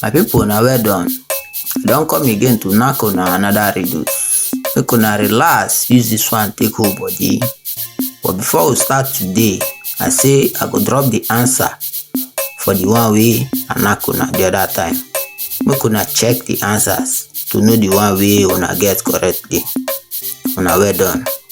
My people na well done. I don come again to knack una another riddle. Make una relax use this one take hold body. But before we start today, I say I go drop the answer for the one wey I knack una the other time. Make una check the answers to know the one wey una get correctly. Una well done.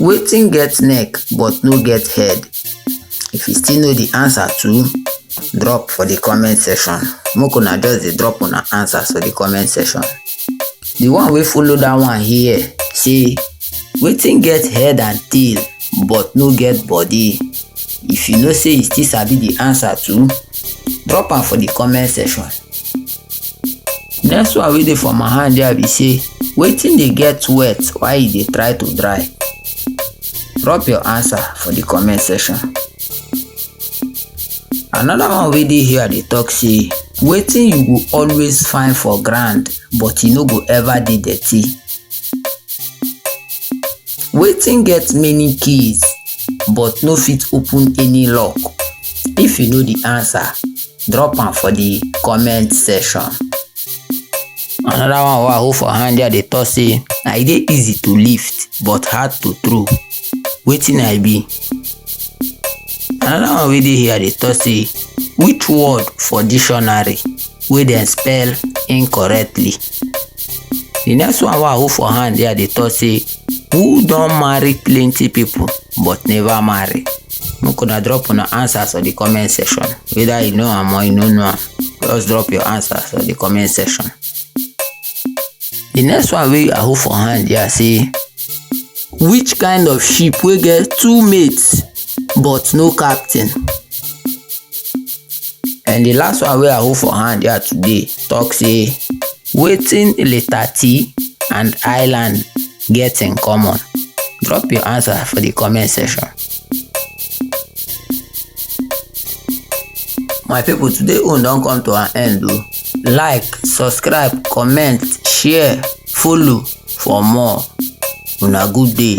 Wetin get neck but no get head? If you still know the answer to, drop for the comment section. Make una just dey drop una answers for the comment section. The one wey follow that one here say, wetin get head and tail but no get body? If you know say you still sabi the answer to, drop am for the comment section. next one wey dey for my hand there be say wetin dey get wet while e dey try to dry drop your answer for the comment section another one wey dey here dey talk say wetin you go always find for ground but e no go ever dey dirty wetin get many keys but no fit open any lock if you know the answer drop am for the comment section another one wey i hold for hand there dey talk say na e dey easy to lift but hard to throw wetin i be another one wey dey here dey talk say which word for dictionary wey dem spell incorrectly the next one wey i hold for hand there dey talk say who don marry plenty people but never marry make una drop una answers for the comment section whether you know am or you no know am just drop your answers for the comment section the next one wey i hold for hand here say which kind of ship wey get two mates but no captain and the last one wey i hold for hand here today talk say wetin letter t and island get in common drop your answer for the comment section my people today own don come to an end o like subscribe comment share follow for more una good day.